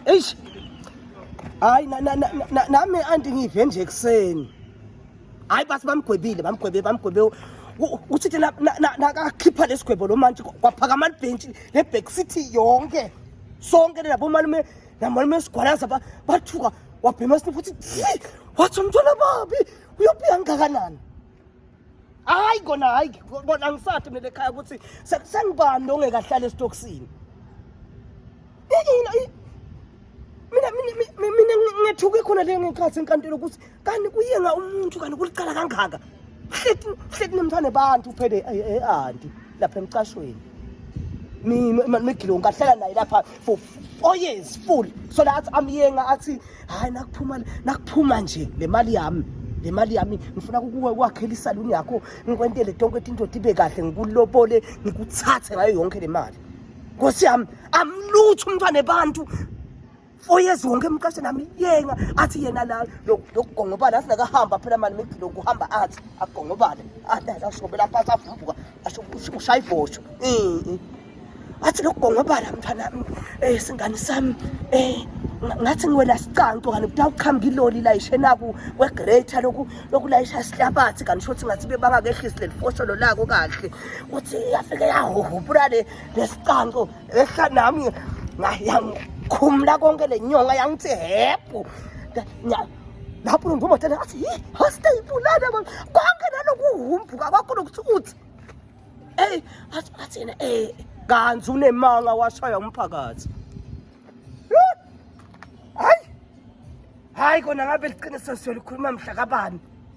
eish hayi nami anti ngive nje ekuseni hayi basi bamgwebile bamgwebe bamgwebe uthi ke nakakhipha lesigwebo lo mantshi kwaphakama libhentshi le back city yonke sonke labo malume namalume sigwalaza bathuka wabhema sini futhi wathi umntwana babi uyophiya ngingakanani hayi kona hayi kona angisathi mina ekhaya ukuthi sengibani nongekahlala esitokisini mina mina ngethuke khona le ngekhathi enkantolo ukuthi kanti kuyenga umuntu kanti kulicala kangaka hlethi hlethi nemthane bantu uphele e-anti lapha emcashweni mina migilongo kahlala naye lapha for four years full so la athi amyenga athi hayi nakuphuma nakuphuma nje le mali yami le mali yami ngifuna kukuwe kwakhela isaluni yakho ngikwentele tonke etindoda ibe kahle ngikulobole ngikuthathe ngayo yonke le mali nkosi yami amlutho umntwana ebantu four years wonke emqashe nami yenga athi yena la lokugongobala athi nakahamba phela mani migilo kuhamba athi agongobale ashobela phansi avumbuka ushaya ibhosho athi lokugongobala mntwana um eh, singane sami um ngathi ngiwela sicanto kanti kuthiwa kuqhamuka iloli layishe naku kwegreta loku lokulayisha sihlabathi kanti shothi ngathi bebangakehlisi leli fosholo lako kahle kuthi yafike yahuhupula le lesicanto ehla nami yangikhumula konke le nyonga yangithi hebhu lapho lo ngumatana athi yi hoste ibulala konke nalokuhumbuka kwakho lokuthi uthi eyi athi athi yena eh kanzi unemanga washaya umphakathi hayi hayi kona ngabe liqiniso siyolikhuluma mhla kabani